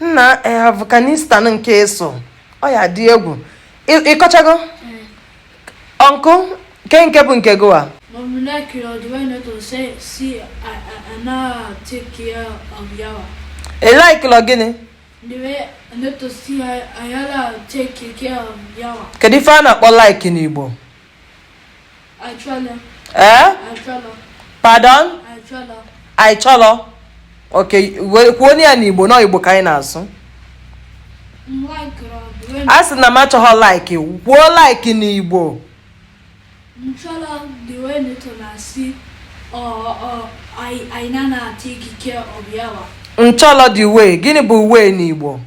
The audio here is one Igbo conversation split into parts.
nna eh, afghanistan nke ị sụọ ya dị egwu Ị- ị kọchago ọnkụ ke nke bụ nke gị wa But we likelụ the way Neto si, si, a, anyị na take care of yawa. ị likelụ gịnị The way Neto si anyị na take care of yawa. kedu ife a na-akpọ like n'igbo Achọlọ. ee eh? Achọlọ. pardon Achọlọ. ị chọlọ ok kwuonụ ya n'igbo na igbo ka anyị na-asụ a sị na m achọghọ like kwuo like n'igbo m chọrọ the way Neto na-esi anyị na take care of yawa m chọlọ the way gịnị bụ way n'igbo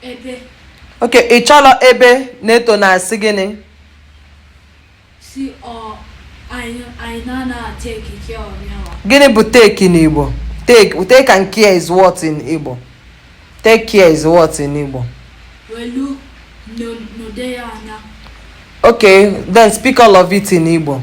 Ebe. Ok, ị chọrọ ebe Neto na-esi gịnị? Si ọ anyị na-ana take care of ya. Gịnị bụ take n'Igbo? Take, take and care is what in Igbo? Take care is what in Igbo? Welu nedo ya anya. Okay, then speak all of it in Igbo.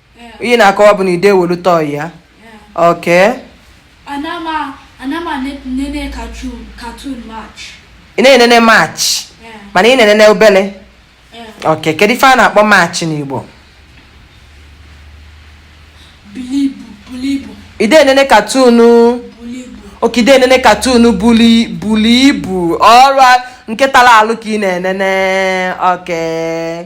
ihe ị na-akọwa bụ na ị da-ewelu toy ya okay ị na-enene much mana ị na-enene obele okay kedu ife a na-akpọ much n'Igbo ị da-enene cartoon okay ị da-enene cartoon bulu ibu ọ bụ nke tara alụ ka ị na-enene okay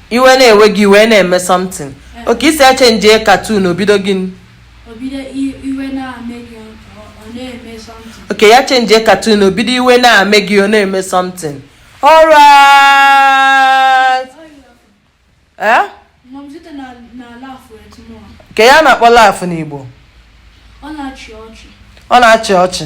iwe na-ewe gị ị wee na-eme something eh. okay ị sị ya changie cartoon o bido gịnị okay ya changie cartoon o bido iwe na-eme gị ọ na-eme something alright eh? kee ihe a na-akpọ laugh n'igbo ọ na-achị ọchị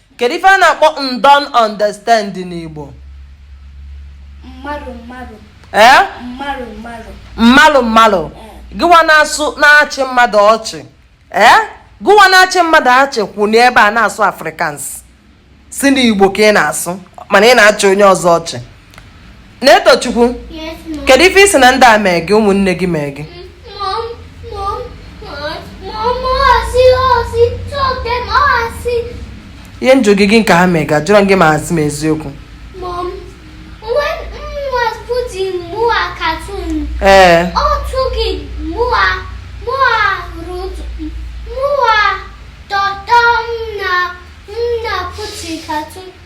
Kedu ife a na-akpọ don't understand n'Igbo? Mmadụ mmadụ. Ee? Mmadụ mmadụ. Mmadụ mmadụ. Gịwa na-asụ na-achị mmadụ ọchị. Ee? Gịwa na-achị mmadụ ọchị kwụ n'ebe a na-asụ Afrikaans. Sị na Igbo ka ị na-asụ mana ị na-achị onye ọzọ ọchị. Netochukwu kedu ife ị sị na ndị a mee gị ụmụnne gị mee gị ihe m jụ gị gịnị ka ha mee gị ajụrọ m gị ma asị m eziokwu ee Cartoon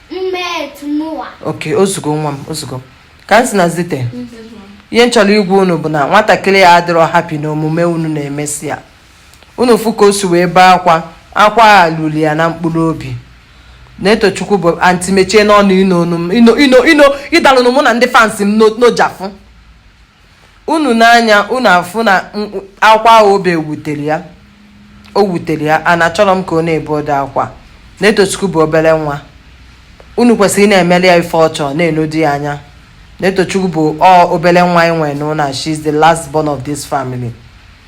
oke ozugo nwa m ozugo kamsi na zite ihe m chọrọ ịgwa unu bụ na nwatakịrị a adịrọ happy na omume unu na-emesi ya unu fụ ka o si wee bee akwa akwa a ruru ya na mkpụrụ obi netochukwu bụ anti mechie nụ ọnụ ino ino ino ịdalụnụ mụ na ndị fans m n'ojafụ unu n'anya unu afụ na akwa ahụ o be wutere ya o wutere ya and achọrọ m ka ọ na-ebe ụdị akwa netochukwu bụ obere nwa unu kwesịrị na-emere ya ife ọ chọ na-enedo ya anya netochukwu bụ ọ obere nwa anyị nwere n'ụlọ she is the last born of this family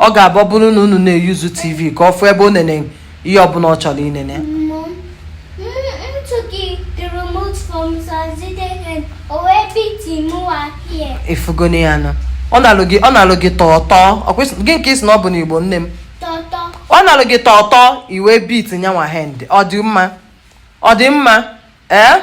ọ ga-abụ ọ bụrụ na unu na-eyuzu tv ka ọ fụ ebe o nene ihe ọbụla ọ chọrọ inene ị fụgonụ ya nụ ọ na-alụ gị ọ na-alụ gị tọọ tọọ gị nke isi na ọ bụ na igbo nne m ọ na-alụ gị tọọ tọọ i will beat you one hand ọ dị mma ọ dị mma ee eh?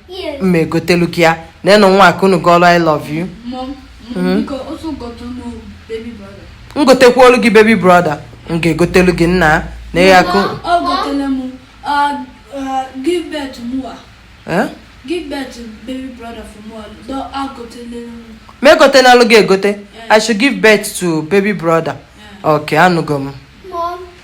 m ga-egotelu gị ya na ịnụ nwa akụnụ gị ọrụ i love you hmm? m gotekwalu gị baby brother m ga-egotelu gị nna na ịya akụ ma egotenalụ gị egote i should give birth to baby brother okay anụgo m